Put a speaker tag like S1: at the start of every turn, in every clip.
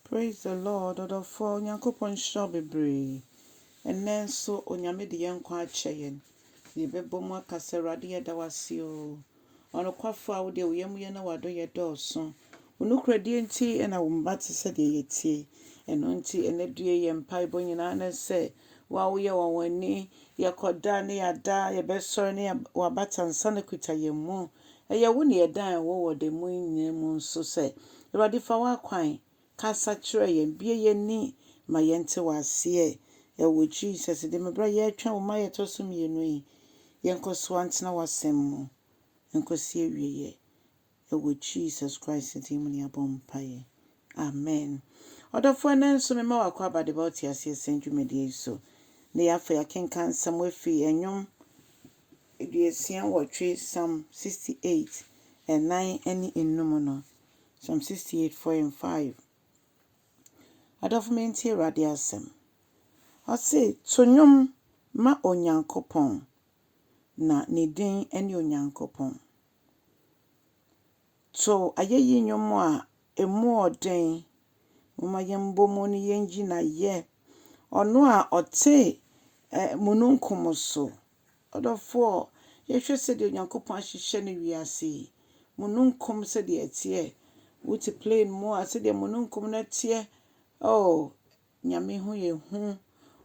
S1: Praise the Lord ɔdɔfoɔ Onyankopɔn nhyira wo bebree ɛnnɛ nso Onyame de yɛn nkwa akyɛ yɛn na yɛbɛbɔ mu aka sɛ Awurade yɛda wo ase oo ɔnokwafoɔ a wo deɛ wo yɛmuyɛ na w'adɔyɛ dɔɔso wo nokorɛdie nti na wo mma te sɛ deɛ yɛtie ɛno nti ɛnɛ due yɛn mpaebɔ nyinaa ne sɛ Wo a woyɛ ɔnwanwani, yɛkɔda ne yɛada, yɛbɛsɔre ne w'abata nsa no kuta yɛn mu. Ɛyɛ wo na yɛdan yɛn ho wɔ da mu nyinaa mu nso sɛ, Awurade fa w'akwan kasa kyerɛ yɛn, bue yɛn ani ma yɛnte w'aseɛ. Ɛwɔ Jesus din mu, berɛ a yɛretwɛn wo mma a yɛtɔ so mmienu yi, yɛnkɔ so ntena w'asɛm mu nkɔsi awieɛ. Ɛwɔ Jesus Christ din mu ne yɛabɔ mpaeɛ. Amen. Ɔdɔfoɔ ɛnnɛ nso mema wo akwaaba de ba wo teaseɛsɛm dwumadie yi so. Nnɛ yi afei yɛakenkan nsɛm afiri Nnwom aduosia nwɔtwe, Psalm sixty eight, ɛnan ɛne nnum mu no. Psalm sixty eight, four and five. Adɔfo mentie Awurade asɛm. Ɔse, To nnwom ma Onyankopɔn, na ne din ne Onyankopɔn. To ayeyi nnwom a emu ɔ den. Momma yɛmbɔ mu na yenyi N'ayɛ. Ɔno a ɔte ɛ mununkum so. Ɔdɔfoɔ, yɛhwɛ sɛdeɛ Onyankopɔn ahyehyɛ no wiase yi. Mununkum sɛdeɛ ɛteɛ. Wote plane mu a, sɛdeɛ mununkum no teɛ. Oh, Nyame ho yɛ hu,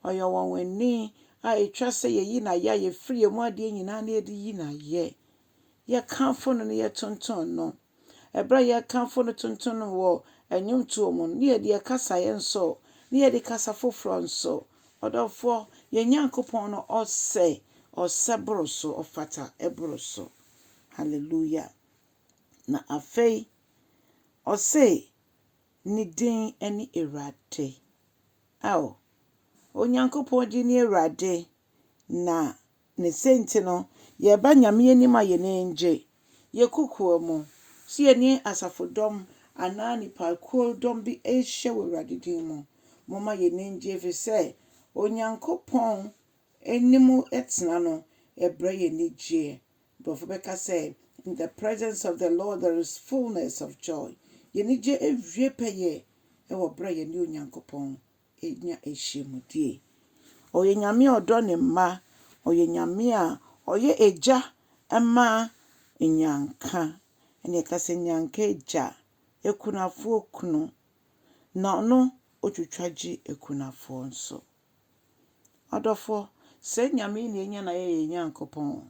S1: ɔyɛ ɔwanwani a etwa sɛ yɛyi no ayɛ a yɛfiri yɛn mu adeɛ nyinaa na yɛde yi no ayɛ. Yɛkamfo no na yɛtonton no. Ɛberɛ a yɛkamfo no tonton no wɔ nnwomtoɔ mu no, na yɛde yɛn kasaeɛ nso, na yɛde kasa foforɔ nso. Ɔdɔfoɔ, yɛn Nyankopɔn no ɔsɛ, ɔsɛ boro so, ɔfata boro so. Hallelujah. Na afei, ɔse, Ne din ne Awurade. Ao, Onyankopɔn din ne Awurade, na ne sɛnti no, yɛba Nyame anim a yɛn ani gye. Yɛn kokoa mu, sɛ yɛne asafodɔm anaa nnipakuo dɔm bi rehyɛ wɔ Awurade din mu, momma yɛn ani ngye ɛfiri sɛ Onyankopɔn anim tena no brɛ yɛn anigyeɛ. Nkurɔfo bɛka sɛ, In the presence of the Lord there is fullness of joy. Yɛn anigye awie pɛyɛ wɔ bere a yɛne Onyankopɔn nya ahyiamudie. Ɔyɛ Nyame a ɔdɔ ne mma. Ɔyɛ Nyame a ɔyɛ Agya ma nnyanka. Ɛnna yɛka sɛ nnyanka agya, akunafoɔ kunu, na ɔno ɔtwitwa gye akunafoɔ nso. Adɔfoɔ, saa Nyame yi na yɛnya no a ɛyɛ yɛn Nyankopɔn.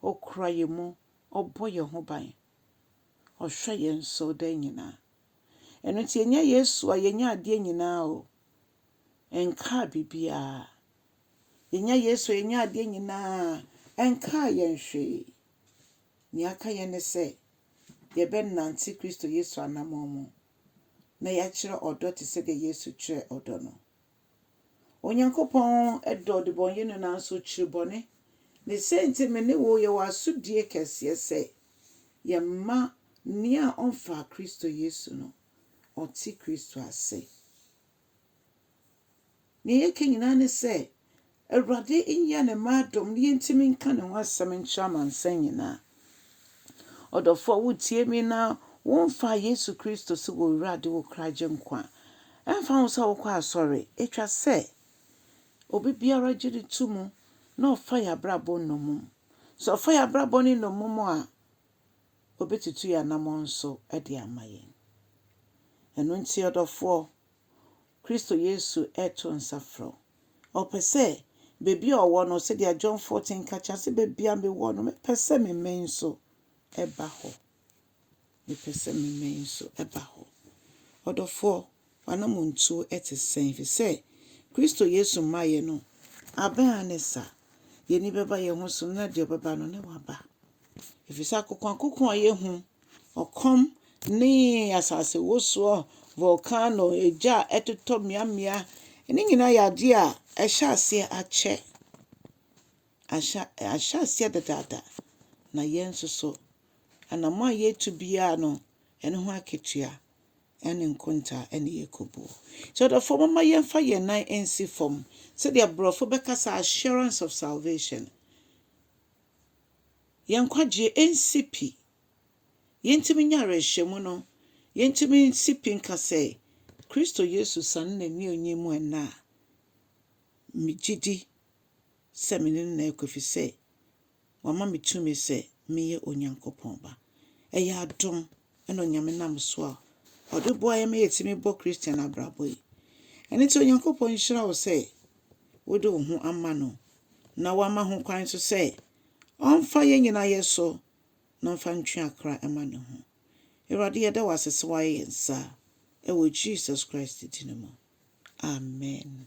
S1: Ɔkura yɛn mu, Ɔbɔ yɛn ho ban, Ɔhwɛ yɛn so da nyinaa. Ɛno nti yɛnya Yesu a yɛnya adeɛ nyinaa o, ɛnkaa biribiara. Yɛnya Yesu a yɛnya adeɛ nyinaa, ɛnkaa yɛn hwee. Nea aka yɛn ne sɛ yɛbɛnante Kristo Yesu anammɔn mu na yɛakyerɛ ɔdɔ te sɛdeɛ Yesu kyerɛɛ ɔdɔ no. Onyankopɔn dɔ ɔdebɔneyɛni nanso okyiri bɔne. Ne sɛ nti me ne wo yɛwɔ asodie kɛseɛ sɛ yɛmma nea ɔmfaa Kristo Yesu no ɔte Kristo ase. Nea yɛka nyinaa ne sɛ Awurade nyɛ ne mma adom na yɛntumi nka ne ho asɛm nkyerɛ amansan nyinaa. Ɔdɔfoɔ wotie me na womfaa Yesu Kristo sɛ wɔ Wura de wo kra gye nkwa a, ɛmfa ho sɛ wokɔ asɔre, ɛtwa sɛ obi biara gye no to mu na ɔfa yɛn abrabɔ nnɔmum. Sɛ ɔfa yɛn abrabɔ no nnɔmum a, ɔbɛtutu yɛn anamɔn so de ama yɛn. Ɛno nti ɔdɔfoɔ, Kristo Yesu reto nsa frɛ wo. Ɔpɛ sɛ baabi a ɔwɔ no, sɛdeɛ John 14 ka kyerɛ, ɔse, Baabi a mewɔ no, mepɛ sɛ me mmɛn nso ba hɔ. Mepɛ sɛ me mmɛn nso ba hɔ. Ɔdɔfoɔ, w'anammɔntuo te sɛn? Ɛfiri sɛ Kristo Yesu mmaeɛ no, abɛn ara ne sa. Yɛn ani bɛba yɛn ho so, na deɛ ɔbɛba no, ne waba. Ɛfiri sɛ akokoakoko a yɛhu Ɔkɔm ne asasewosoɔ, volcano, egya a ɛtotɔ mmeammea, ne nyinaa yɛ adeɛ a ahyɛ aseɛ akyɛ. Ahyɛ ahyɛ aseɛ dedaada, na yɛn nso so, anammɔn a yɛretu biara no, ɛno ho akatua ne nkontaa na yɛkɔbuo. Nti ɔdɔfoɔ momma yɛmfa yɛn nan nsi fam sɛdeɛ borɔfo bɛka sɛ assurance of salvation. yɛn nkwagyeɛ nsi pi. Yɛntumi nyɛ awerɛhyɛmu no, yɛntumi nsi pi nka sɛ, Kristo Yesu sane n'anuonyam mu ɛnnɛ a, megye di sɛ me ne no na ɛrekɔ ɛfiri sɛ wama me tumi sɛ meyɛ Onyankopɔn ba. Ɛyɛ adom na Onyame nam so a Ɔde boa yɛn ma yɛtumi bɔ Christian abrabɔ yi. Ɛno nti Onyankopɔn nhyira wo sɛ wode wo ho ama No, na Wama ho kwan nso sɛ Ɔmfa yɛn nyinaa yɛ so na Ɔmfa ntwe akra mma Ne ho. Awurade, yɛda wo ase sɛ woayɛ yɛn saa, wɔ Jesus Christ din mu, amen.